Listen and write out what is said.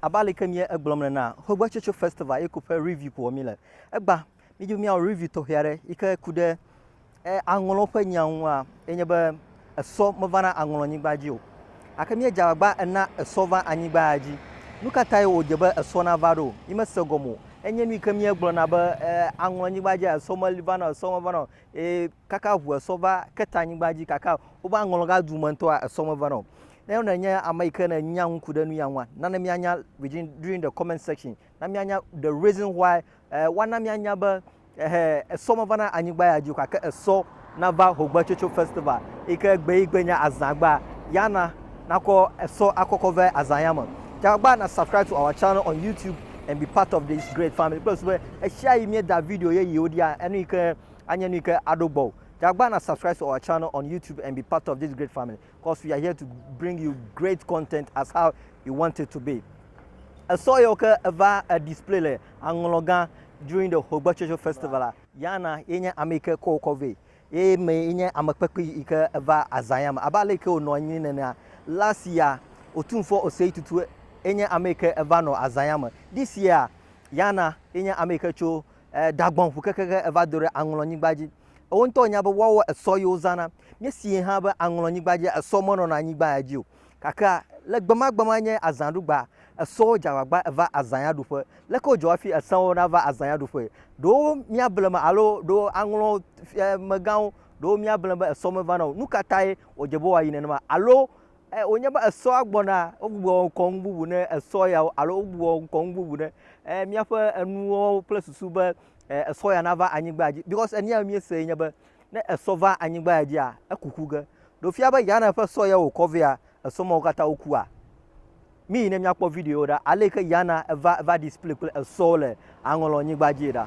Abe aleke mie egblɔm le na Hogbe Tsotso Festival eko ƒe review ko wɔ mi le. Egba mi dzo miawɔ review tɔxɛ aɖe yi ke ku ɖe e aŋlɔ ƒe nya ŋu a ye nye be esɔ meva na aŋlɔ nyigba dzi o. Ake mie dze agbagba ena esɔ va anyigba ya dzi. Nu ka tae wo dze be esɔ na va ɖo? Mi me se gɔme o. Enye nu yi ke mie gblɔ na be e aŋlɔ nyigba dzi a esɔ me li va na o esɔ me va na o. eye kaka ŋu esɔ va ke ta anyigba dzi kaka woƒe aŋlɔga du me ŋutɔa esɔ meva na o. Ne wona nye ame yi ke ne nya ŋku ɖe nu ya ŋua, nana mianya within during the comment section. Na mianya the reason why eh, wana mianya be eh, esɔ meva na anyigba ya dzi o gake esɔ nava Hogbetsotso Festival yi ke gbe yi gbe nye azãgba ya na nakɔ esɔ akɔkɔ ve azã ya me. Tsagba na subscribe to our channel on YouTube and be part of this great family kple sube eshiayi mie da video ye yiwo dia enu yike anye nu yike aɖo gbɔ o jagba na subscribe to our channel on youtube and be part of this great family cause we are here to bring you great content as how you want it to be esɔ yewo ke eva a display le aŋlɔ gã during the hogbe chocho festival la yana ye nye ame yike kɔ wokɔ vɛ Ye mee nye ame kpekpee yi ke va azã ya me. Abe ale yi ke wònɔ anyi nenea, last year, Otumfuɔ Osei Tutu ye nye ame yi ke va nɔ azã ya me. This year, Yana ye nye ame yi ke tso Dagbon ŋu kekeake eva do ɖe Aŋlɔnyigba dzi. Wo ŋutɔ nya be woawo esɔ ye wozãna. Míesee hã be Aŋlɔnyigba dzia, esɔ menɔna anyigba ya dzi o. Gakea le gbemagbema nye azãɖugbea, esɔ wo dze agbagba eva azãyaɖuƒe. Leke wodzɔ hafi esẽ wo nava azãyaɖuƒee? Ɖewo míable me alo ɖewo aŋlɔ fiamegãwo, ɖewo míable be esɔ mevana o. Nu ka tae wòdze be woayi nenema? Alo wònye be esɔa gbɔna, wogbugbɔ wɔ ŋkɔ nu bubu ne esɔ yawo alo wogbugbɔ wɔ ŋkɔ nu bubu ne míaƒe enuwo kple susu be esɔ ya nava anyigbaa dzi? Because enu ya míesee nye be Ne esɔ va anyigba ya dzia, eku ku ge. Ɖe wofia be Yane ƒe sɔ yae wòkɔ vea? Esɔ mawo katã wokua? Míyi ne míakpɔ videowo ɖa. Ale yi ke Yana va va ɖi spli kple esɔwo le aŋɔlɔnyigba dzie ɖa.